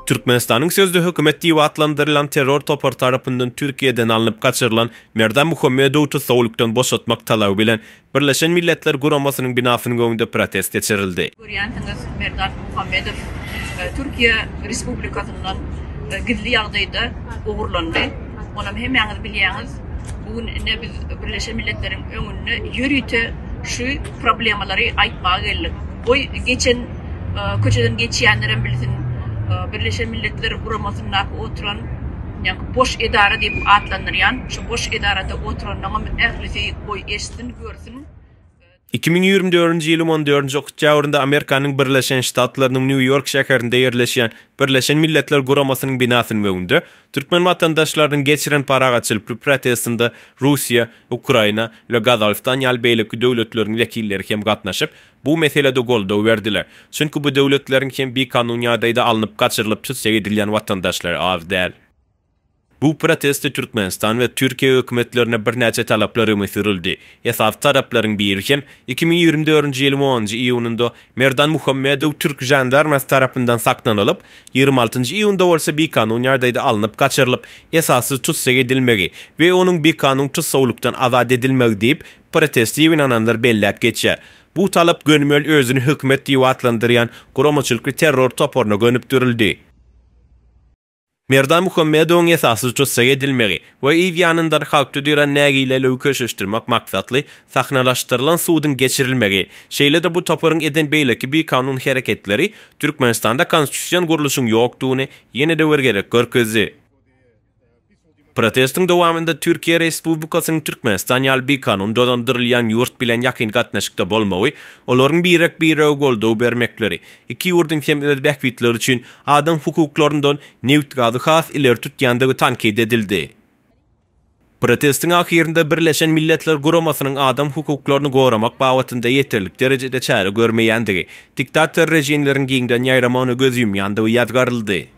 Türkmenistanyň sözde hökümet diýip atlandyrylan terror topary tarapyndan Türkiýeden alnyp gaçyrylan Merdan Muhammedowy tussaglykdan boşatmak talaby bilen Birleşen Milletler Guramasynyň binasynyň öňünde protest geçirildi. Görýänsiňiz, Merdan Muhammedow Türkiýe Respublikasyndan gizli ýagdaýda ogurlandy. Onam hemmäňiz bilýäňiz. Bu gün ine biz Birleşen Milletleriň öňünde ýörite şu problemalary aýtmaga geldik. Goý, geçen köçeden geçýänlerem bilsin, Birleşen Milletler Guramasyndaky oturan, ýaňky boş edara diýip atlandyrýan, şu boş edarada oturanlaňam ählisi goý eşitsin, görsün. Iki müň ýigrimi dördünji ýylyň on dördünji oktýabrynda Amerikanyň Birleşen Ştatlarynyň Nýu-Ýork şäherinde ýerleşýän Birleşen Milletler Guramasynyň binasynyň öňünde türkmen watandaşlarynyň geçiren parahatçylply protestinde Russiýa, Ukraina we Gazagystan ýaly beýleki döwletleriň wekilleri hem gatnaşyp, bu meselede goldaw berdiler. Çünki bu döwletleriň hem bikanun ýagdaýda alnyp gaçyrylyp tüsseýe edilýän watandaşlary az däl. Bu protestde Türkmenistan we Türkiýe hökümetlerine birnäçe talaplar öňe sürüldi. Esasy talaplaryň biri hem iki müň ýigrimi dördünji ýylyň onunjy iýunynda Merdan Muhammedow türk žandarmasy tarapyndan saklanylyp, ýigrimi altynjy iýunda bolsa bikanun ýagdaýda alnyp gaçyrylyp, esassyz tussag edilmegi we onuň bikanun tussawlykdan azat edilmegi diýip, proteste ýygnananlar belläp geçýär. Bu talap gönümel özüni hökümet diýip atlandyrýan guramaçylykly terror toparyna gönükdirildi. Merdan Muhammedowyň esasy tussag edilmegi we yz ýanyndan halkda dörän nägileligi köşeşdirmek maksatly sahnalaşdyrylan suduň geçirilmegi, şeýle de bu toparyň eden beýleki bikanun hereketleri Türkmenistanda konstitusion gurluşyň ýokdugyny ýene-de bir gezek görkezdi. Protestiň dowamynda Türkiýe Respublikasynyň Türkmenistan ýaly bikanun dolandyrylýan ýurt bilen ýakyn gatnaşykda bolmagy, olaryň birek-birege goldaw bermekleri, iki ýurduň hem öz bähbitleri üçin adam hukuklaryndan, nebit-gazy has ileri tutýandygy tankyt edildi. Protestiň ahyrynda Birleşen Milletler Guramasynyň adam hukuklaryny goramak babatynda ýeterlik derejede çäre görmeýändigi, diktator režimleriň giňden ýaýramagyna göz ýumýandygy ýazgaryldy.